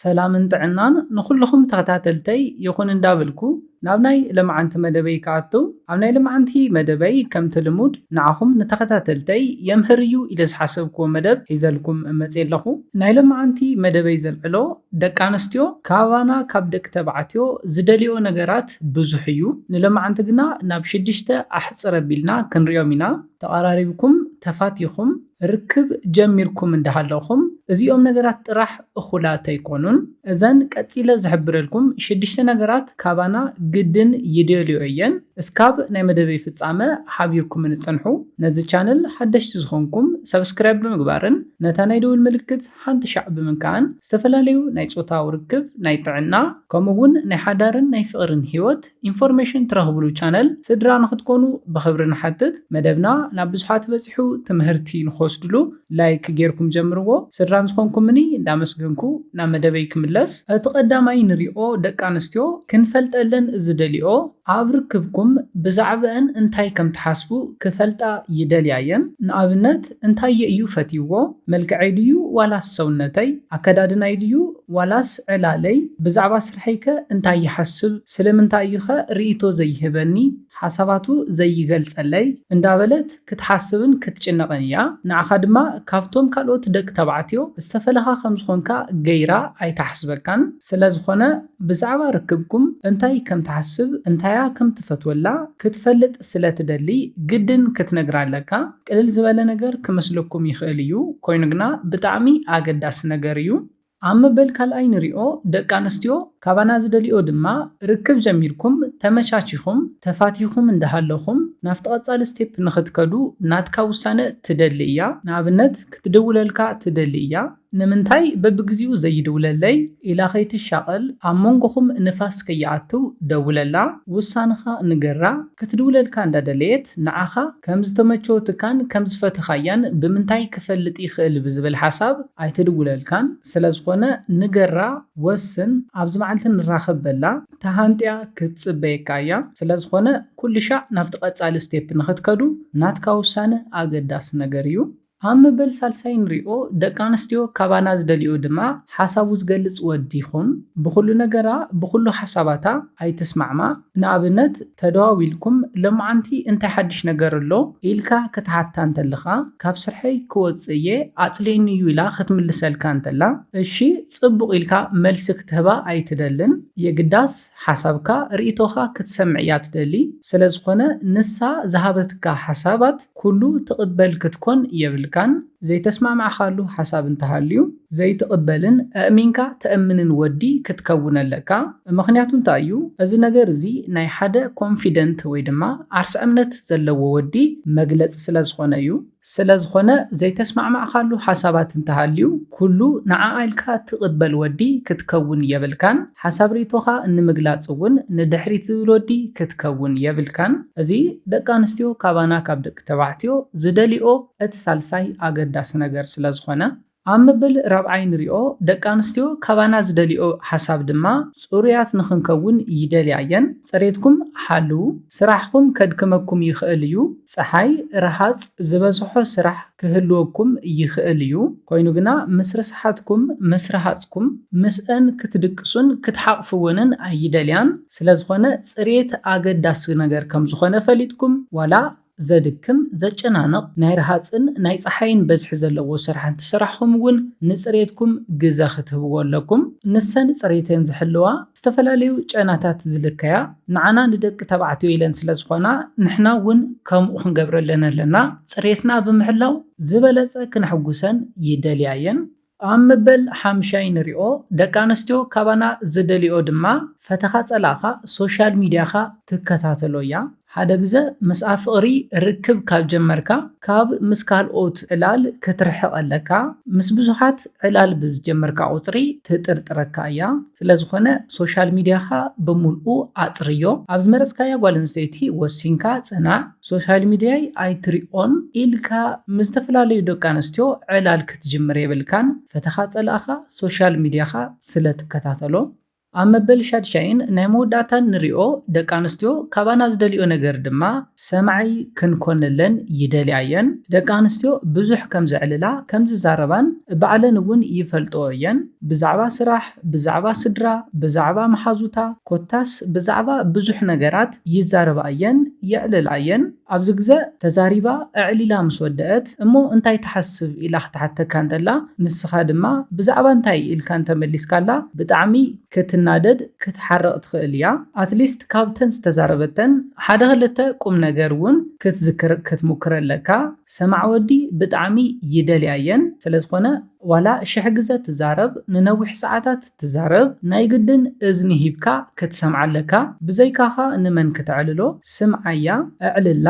ሰላምን ጥዕናን ንኹሉኹም ተኸታተልተይ ይኹን እንዳበልኩ ናብ ናይ ለማዓንቲ መደበይ ክኣትው ኣብ ናይ ለማዓንቲ መደበይ ከምቲ ልሙድ ንዓኹም ንተኸታተልተይ የምህር እዩ ኢለ ዝሓሰብክዎ መደብ ሒዘልኩም መፅየ ኣለኹ ናይ ለማዓንቲ መደበይ ዘልዕሎ ደቂ ኣንስትዮ ካባና ካብ ደቂ ተባዕትዮ ዝደልይኦ ነገራት ብዙሕ እዩ ንለማዓንቲ ግና ናብ ሽድሽተ ኣሕፅር ኣቢልና ክንሪኦም ኢና ተቓራሪብኩም ተፋቲኹም ርክብ ጀሚርኩም እንዳሃለኹም እዚኦም ነገራት ጥራሕ እኹላት ኣይኮኑን። እዘን ቀጺለ ዝሕብረልኩም ሽድሽተ ነገራት ካባና ግድን ይደልዮ እየን። እስካብ ናይ መደበይ ፍጻመ ሓቢርኩምኒ ጽንሑ። ነዚ ቻነል ሓደሽቲ ዝኾንኩም ሳብስክራይብ ብምግባርን ነታ ናይ ደውል ምልክት ሓንቲ ሻዕ ብምንካእን ዝተፈላለዩ ናይ ጾታዊ ርክብ፣ ናይ ጥዕና፣ ከምኡ ውን ናይ ሓዳርን ናይ ፍቕርን ሂወት፣ ኢንፎርሜሽን ትረኽብሉ ቻነል ስድራ ንክትኮኑ ብኽብሪ ንሓትት። መደብና ናብ ብዙሓት በጺሑ ትምህርቲ ንክወስድሉ ላይክ ጌርኩም ጀምርዎ። ስድራን ዝኾንኩምኒ እንዳመስገንኩ ናብ መደበይ ክምለስ። እቲ ቀዳማይ ንሪኦ ደቂ ኣንስትዮ ክንፈልጠለን ዝደልይኦ ኣብ ርክብኩም ብዛዕበእን እንታይ ከም ትሓስቡ ክፈልጣ ይደልያ እየን። ንኣብነት እንታየ እዩ ፈትይዎ መልክዐይ ድዩ ዋላስ ሰውነተይ ኣከዳድናይ ድዩ ዋላስ ዕላለይ ብዛዕባ ጸሓይከ እንታይ ይሓስብ ስለምንታይ እዩኸ ርእይቶ ዘይህበኒ ሓሳባቱ ዘይገልጸለይ እንዳበለት ክትሓስብን ክትጭነቕን እያ ንዓኻ ድማ ካብቶም ካልኦት ደቂ ተባዕትዮ ዝተፈለኻ ከም ዝኾንካ ገይራ ኣይትሓስበካን ስለዝኾነ ብዛዕባ ርክብኩም እንታይ ከም ትሓስብ እንታያ ከም ትፈትወላ ክትፈልጥ ስለ ትደሊ ግድን ክትነግራ ኣለካ ቅልል ዝበለ ነገር ክመስለኩም ይኽእል እዩ ኮይኑ ግና ብጣዕሚ ኣገዳሲ ነገር እዩ ኣብ መበል ካልኣይ ንሪኦ ደቂ ኣንስትዮ ካባና ዝደልይኦ ድማ ርክብ ጀሚርኩም ተመቻቺኹም ተፋቲኩም እንዳሃለኹም ናፍቲ ቀፃሊ ስቴፕ ንኽትከዱ ናትካ ውሳነ ትደሊ እያ ንኣብነት ክትድውለልካ ትደሊ እያ ንምንታይ በብግዚኡ ዘይድውለለይ ኢላ ከይትሻቐል ኣብ መንጎኹም ንፋስ ከይኣትው ደውለላ ውሳንኻ ንገራ ክትድውለልካ እንዳደለየት ንዓኻ ከም ዝተመቸወትካን ከም ዝፈተኻያን ብምንታይ ክፈልጥ ይኽእል ብዝብል ሓሳብ ኣይትድውለልካን ስለዝኾነ ንገራ ወስን ኣብዚ መዓልቲ ንራኸብ በላ ተሃንጥያ ክትጽበየካ እያ ስለዝኾነ ኩልሻዕ ናብቲ ቀጻሊ ስቴፕ ንኽትከዱ ናትካ ውሳነ ኣገዳሲ ነገር እዩ ኣብ መበል ሳልሳይ ንሪኦ ደቂ ኣንስትዮ ካባና ዝደልይኦ ድማ ሓሳቡ ዝገልጽ ወዲ ይኹን ብኹሉ ነገራ ብኹሉ ሓሳባታ ኣይትስማዕማ ንኣብነት ተደዋዊልኩም ሎምዓንቲ እንታይ ሓድሽ ነገር ኣሎ ኢልካ ክትሓታ እንተለኻ ካብ ስርሐይ ክወጽእ እየ ኣጽሊእኒ እዩ ኢላ ክትምልሰልካ እንተላ እሺ ጽቡቕ ኢልካ መልሲ ክትህባ ኣይትደልን የግዳስ ሓሳብካ ርኢቶኻ ክትሰምዕ እያ ትደሊ ስለዝኾነ ንሳ ዝሃበትካ ሓሳባት ኩሉ ትቕበል ክትኮን የብልካን፣ ዘይተስማዕማዕካሉ ሓሳብ እንተሃልዩ ዘይትቕበልን ኣእሚንካ ተእምንን ወዲ ክትከውን ኣለካ፣ ምኽንያቱ እንታይ እዩ እዚ ነገር እዚ ናይ ሓደ ኮንፊደንት ወይ ድማ ዓርሰ እምነት ዘለዎ ወዲ መግለፂ ስለዝኾነ እዩ። ስለዝኾነ ዘይተስማዕማዕካሉ ሓሳባት እንተሃልዩ ኩሉ ንዓኣ ኢልካ ትቅበል ወዲ ክትከውን የብልካን ሓሳብ ሪኢቶኻ ንምግላፅ እውን ንድሕሪት ዝብል ወዲ ክትከውን የብልካን እዚ ደቂ ኣንስትዮ ካባና ካብ ደቂ ተባዕትዮ ዝደልይኦ እቲ ሳልሳይ ኣገዳሲ ነገር ስለዝኾነ ኣብ መበል ራብዓይ ንሪኦ፣ ደቂ ኣንስትዮ ካባና ዝደልይኦ ሓሳብ ድማ ፅሩያት ንኽንከውን ይደልያ እየን፣ ፅሬትኩም ሓልዉ፣ ስራሕኹም ከድክመኩም ይኽእል እዩ፣ ፀሓይ፣ ረሃፅ፣ ዝበዝሖ ስራሕ ክህልወኩም ይኽእል እዩ፣ ኮይኑ ግና ምስ ርስሓትኩም፣ ምስ ረሃፅኩም፣ ምስአን ክትድቅሱን ክትሓቕፍወንን ኣይደልያን፣ ስለዝኾነ ፅሬት ኣገዳሲ ነገር ከምዝኾነ ፈሊጥኩም ዋላ ዘድክም፣ ዘጨናንቕ፣ ናይ ረሃጽን ናይ ጸሓይን በዝሒ ዘለዎ ስራሕ እንተሰራሕኹም እውን ንጽሬትኩም ግዘ ክትህብዎ ኣለኩም። ንሰን ጽሬተን ዝሕልዋ፣ ዝተፈላለዩ ጨናታት ዝልከያ፣ ንዓና ንደቂ ተባዕትዮ ኢለን ስለዝኾና ንሕና እውን ከምኡ ክንገብረለን ኣለና። ጽሬትና ብምሕላው ዝበለጸ ክነሕጉሰን ይደልያ እየን። ኣብ መበል ሓምሻይ ንሪኦ ደቂ ኣነስትዮ ካባና ዝደልይኦ ድማ ፈተኻ ጸላእኻ ሶሻል ሚድያኻ ትከታተሎ እያ ሓደ ግዘ ምስ ኣፍቕሪ ርክብ ካብ ጀመርካ ካብ ምስ ካልኦት ዕላል ክትርሕቕ ኣለካ ምስ ብዙሓት ዕላል ብዝጀመርካ ቁጽሪ ትጥርጥረካ እያ ስለዝኾነ ሶሻል ሚድያኻ ብሙልኡ ኣጽርዮ ኣብ ዝመረጽካያ ጓል ኣንስተይቲ ወሲንካ ጽናዕ ሶሻል ሚድያይ ኣይትሪኦን ኢልካ ምስ ዝተፈላለዩ ደቂ ኣንስትዮ ዕላል ክትጅምር የብልካን ፈተኻ ጸላእኻ ሶሻል ሚድያኻ ስለ ትከታተሎ ኣብ መበል ሻድሻይን ናይ መወዳእታን ንሪኦ ደቂ ኣንስትዮ ካባና ዝደልይኦ ነገር ድማ ሰማዒ ክንኮነለን ይደልያ እየን ደቂ ኣንስትዮ ብዙሕ ከም ዘዕልላ ከም ዝዛረባን ባዕለን እውን ይፈልጥኦ እየን ብዛዕባ ስራሕ ብዛዕባ ስድራ ብዛዕባ መሓዙታ ኮታስ ብዛዕባ ብዙሕ ነገራት ይዛረባ እየን የዕልላ እየን ኣብዚ ግዘ ተዛሪባ ኣዕሊላ ምስ ወደእት እሞ እንታይ ትሓስብ ኢላ ክትሓተካ እንተላ ንስካ ድማ ብዛዕባ እንታይ ኢልካ እንተመሊስካላ ብጣዕሚ ክትናደድ ክትሓርቅ ትክእል እያ ኣትሊስት ካብተን ዝተዛረበተን ሓደ ክልተ ቁምነገር እውን ክትዝክር ክትሙክር ኣለካ ሰማዕ ወዲ ብጣዕሚ ይደልያ እየን ስለዝኮነ ዋላ ሽሕ ግዘ ትዛረብ ንነዊሕ ሰዓታት ትዛረብ ናይ ግድን እዝኒ ሂብካ ክትሰምዓ ኣለካ ብዘይካኻ ንመን ክተዕልሎ ስምዓያ ኣዕልላ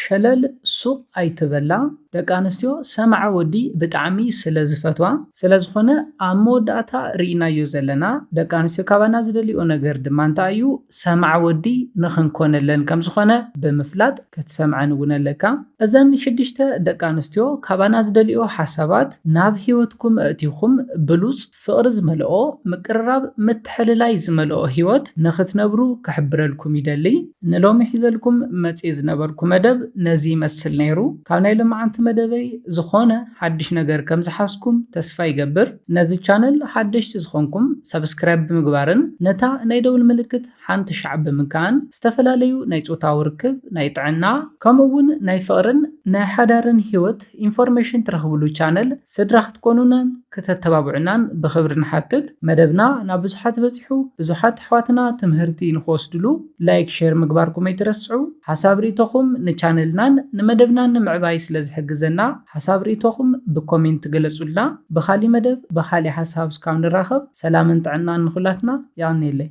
ሸለል ሱቅ ኣይትበላ ደቂ ኣንስትዮ ሰምዓ ወዲ ብጣዕሚ ስለ ዝፈትዋ ስለ ዝኮነ ኣብ መወዳእታ ሪኢናዮ ዘለና ደቂ ኣንስትዮ ካባና ዝደልይኦ ነገር ድማ እንታይ እዩ ሰምዓ ወዲ ንክንኮነለን ከም ዝኮነ ብምፍላጥ ክትሰምዐን እውን ኣለካ እዘን ሽዱሽተ ደቂ ኣንስትዮ ካባና ዝደልይኦ ሓሳባት ናብ ሂወትኩም ኣእቲኩም ብሉጽ ፍቕሪ ዝመልኦ ምቅርራብ ምትሕልላይ ዝመልኦ ሂወት ንኽትነብሩ ክሕብረልኩም ይደሊ። ንሎሚ ሒዘልኩም መጽየ ዝነበርኩ መደብ ነዚ ይመስል ነይሩ። ካብ ናይ ሎማዓንቲ መደበይ ዝኾነ ሓድሽ ነገር ከም ዝሓዝኩም ተስፋ ይገብር። ነዚ ቻነል ሓደሽቲ ዝኾንኩም ሳብስክራይብ ብምግባርን ነታ ናይ ደውል ምልክት ሓንቲ ሻዕ ብምንካእን ዝተፈላለዩ ናይ ጾታዊ ርክብ፣ ናይ ጥዕና፣ ከምኡ ውን ናይ ፍቕርን ናይ ሓዳርን ሂወት ኢንፎርሜሽን ትረኽብሉ ቻነል ስድራ ክትኮኑናን ክተተባብዑናን ብኽብሪ ንሓትት። መደብና ናብ ብዙሓት በጺሑ ብዙሓት ኣሕዋትና ትምህርቲ ንኽወስድሉ ላይክ ሼር ምግባርኩም ኣይትረስዑ። ሓሳብ ሪኢቶኹም ንቻነልናን ንመደብናን ንምዕባይ ስለ ዝሕግዘና ሓሳብ ሪኢቶኹም ብኮሜንት ገለጹልና። ብኻሊ መደብ ብኻሊ ሓሳብ እስካብ ንራኸብ ሰላምን ጥዕናን ንኹላትና። የቐንየለይ።